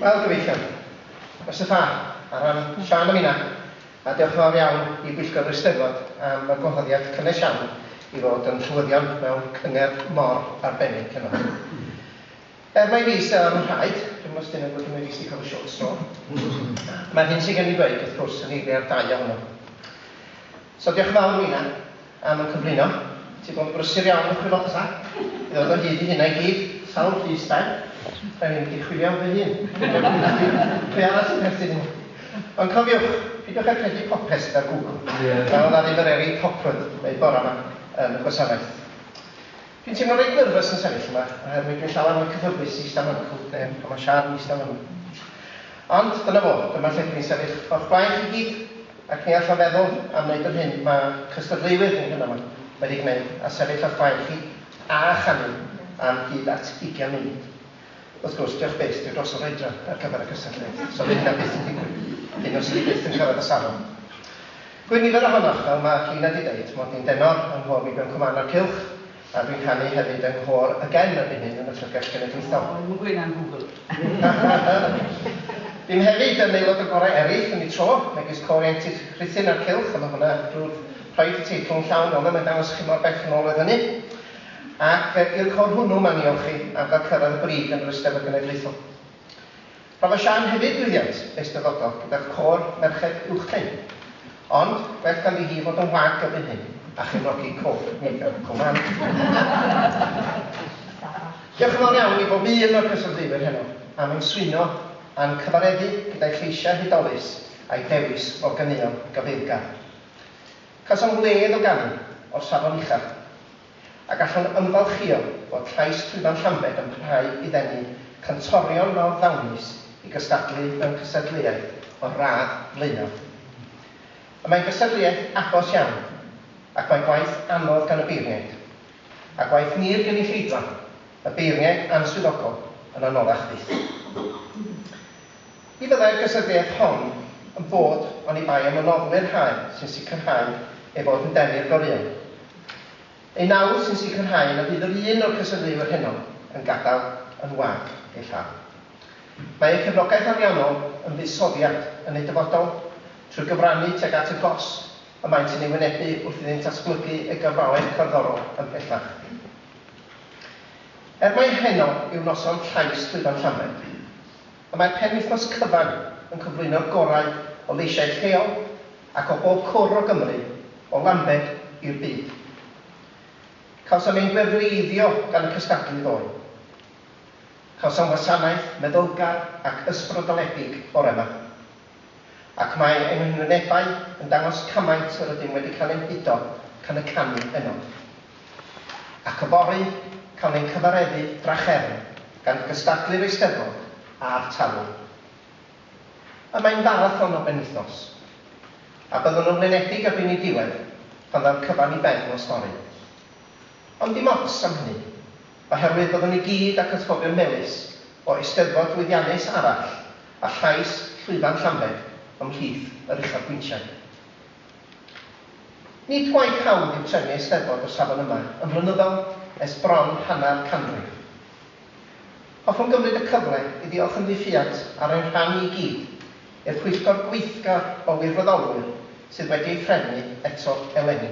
Wel, gyfeillion, y sefyllfa ar ran Siân a Mina, a diolch yn fawr iawn i bwyllgor yr Eisteddfod am y gwahoddiad cynnes iawn i fod yn nhrywyddion mewn cyngerdd mor arbennig heno. Er mai fi sydd â'r nhraed, dwi'm os 'dyn nhw'n gwybod mai fi sydd 'di cael y short straw, mae'r hyn sydd gen i ddweud, wrth gwrs, yn eiliad da iawn nhw. So diolch yn fawr Nina am y cyflwyno. Ti'n bod yn brysur iawn wrth dy fod ta? I ddod o hyd i hynna i gyd, sawl llys dau? Rhaid i mi di chwilio am fy hun. Pwy arall sy'n perthyn i mi? Ond cofiwch, pidiwch â credu popeth sydd ar Google. Fel na ddim yr Erin Hopwood neu Bora 'ma yn y gwasanaeth. Dwi'n teimlo reit nyrfys yn sefyll yma, oherwydd dwi'n llawer mwy cyfforddus i ista mewn cwt ne pan mae Siân yn ista yma. Ond, dyna fo, dyma lle dwi'n sefyll o'ch blaen chi gyd, ac ni allaf feddwl am wneud yr hyn mae cystadleuwyr ni heno yma wedi gwneud a sefyll o'ch blaen chi a chanu am hyd at ugian munud. Wrth gwrs, diolch byth, dwi dros yr oedran ar gyfer y cystadleuaeth, so fydd hynna byth yn digwydd, hyd yn oed 'swn i byth yn cyrraedd y safon. Gwyn nifer ohonoch, fel mae Llina 'di deud, mod i'n denor yng nghôr Wibion Cwman a'r Cylch, a dwi'n canu hefyd yng nghôr y Gen erbyn hyn yn y Llyfrgell Genedlaethol. Dim gwyn am gwbl. Dim hefyd yn aelod o gorau eraill yn y tro, megis Côr Ieuenctid Rhuthun a'r Cylch, a mae hwnna drwy'r rhaid y teitl yn llawn, ond 'na mae'n dangos i chi mor bell yn ôl oedd hynny. Ac i'r côr hwnnw, mae'n ei olchi ar gael cyrraedd y brig yn yr Eisteddfod Genedlaethol. Rhoddodd Siân hefyd lwyddiant eisteddfodol gyda'r côr merched uwchben. Ond, gwell ganddi hi fod yn wag erbyn hyn a chefnogi Cof Megan Coman. Diolch yn fawr iawn i bob un o'r cystadleuwyr heno am ymswyno a'n cyfareddu gyda'i lleisiau hudolus a'i dewis o ganeuon gafaelgar. Cawsom wledd o ganu o'r safon uchaf, a gallwn ymfalchïo fod llais Llwyfan Llambed yn parhau i ddenu cantorion mawr ddawnus i gystadlu mewn cystadleuaeth o'r radd flaenaf. Y mae'n gystadleuaeth agos iawn, ac mae gwaith anodd gan y beirniaid, a gwaith ni'r gynulleidfa, y beirniaid a'n swyddogol, yn anoddach fyth. Ni fyddai'r gystadleuaeth hon yn bod oni bai am y noddwyr hael sy'n sicrhau ei fod yn denu i'r goreuon. Ei nawdd sy'n sicrhau na fydd yr un o'r cystadleuwyr heno yn gadael yn wag ei llaw. Mae eu cefnogaeth ariannol yn fuddsoddiad yn eu dyfodol trwy gyfrannu tuag at y gosb y maent yn ei wynebu wrth iddynt ddatblygu eu gyrfaoedd cerddorol ymhellach. Er mai heno yw noson llais llwyfan Llanbed, Y mae penwythnos cyfan yn cyflwyno'r gorau o leisiau lleol ac o bob cwr o Gymru, o Lambed i'r byd. Cawsom ein gwefreiddio gan y cystadlu ddoe. Cawsom wasanaeth meddylgar ac ysbrydoledig bore 'ma. Ac mae ein ymrwynebau yn dangos cymaint yr ydym wedi cael ein hudo gan y canu yno. Ac yfory, cawn ein cyfareddu drachefn gan gystadlu'r Eisteddfod a'r talu. Y mae'n farathon o benwythnos. A byddwn yn flinedig erbyn ei diwedd pan ddaw'r cyfan i ben o stori. Ond dim ots am hynny. oherwydd byddwn i gyd ac atgofion melys o Eisteddfod lwyddiannus arall a llais llwyfan Llanbed ymhlith yr uchafbwyntiau. Nid gwaith hawdd yw trefnu Eisteddfod o'r safon yma yn flynyddol ers bron hanner canrif. Hoffwn gymryd y cyfle i ddiolch yn ddiffuant ar ein rhan i gyd i'r pwyllgor gweithgar o wirfoddolwyr sydd wedi ei threfnu eto eleni.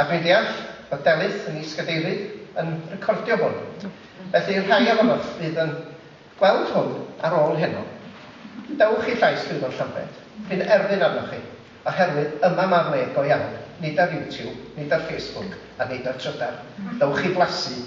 A dwi'n deall bod Delyth yn is-gadeirydd yn recordio hwn, felly rhai ohonoch fydd yn gweld hwn ar ôl heno. Dewch i Llais Llwyfan Llambed, dwi'n erfyn arnoch chi, oherwydd yma ma'r le go iawn, nid ar YouTube, nid ar Facebook, a nid ar Trydar. Dewch i flasu!